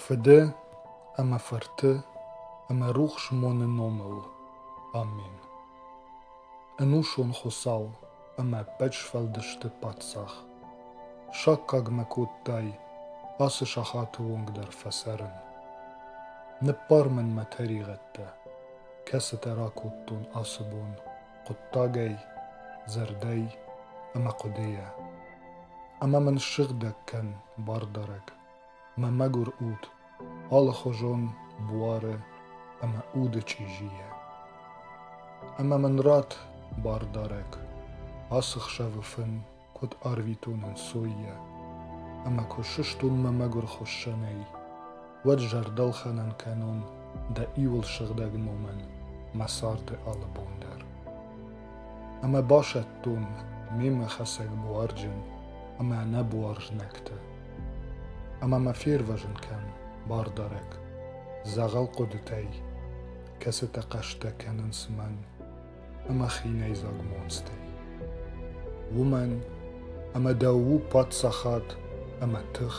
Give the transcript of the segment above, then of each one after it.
Фыды ӕмӕ Фырты ӕмӕ рухс моны номыл. Амен. Ӕнусон Хуыцау ӕмӕ ӕппӕт сфӕлдысты Паддзах. Саккаг мӕ кодтай ацы сахаты онг дӕр фӕцӕрын. Ныббар мын мӕ тӕригъӕдтӕ, кӕцытӕ ракодтон ацы бон. хъуыддагӕй, зӕрдӕй ӕмӕ хъуыдыйӕ. Ӕмӕ мын ссыгъдӕг кӕн, бардарӕг, мӕ мӕгуыр уд, алыхуызон буары ӕмӕ уды чъизийӕ. Ӕмӕ мын ратт, бардарӕг, ацы хсӕвы фын куд арвитон ӕнцоййӕ ӕма куд сустун мӕ мӕгур хуссӕнӕй, уӕд зӕрдӕлхӕнӕн кӕнун дӕ иуыл сыгъдӕг номӕн мӕ царды алы бон дӕр. Ӕмӕ басӕттон мемӕ хӕцӕг буарджын ӕмӕ нӕбуар знӕгтӕ. Ӕмӕ мӕ фервӕзын кӕн, бардарӕг, дзӕгъӕл хъуыдытӕй, кӕцытӕ хъӕстӕ кӕнынц мӕн ӕма хийнӕйдзаг монцтӕй. Уомӕн ӕма дӕу паддзахад ӕма тых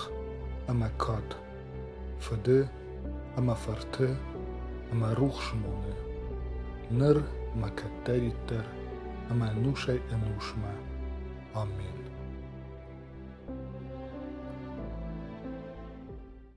ӕма кад, фыды ӕма фырты ӕма рухсмоны, ныр ӕма кӕддӕриддӕр ӕма ӕнусӕй-ӕнусмӕ. Амен.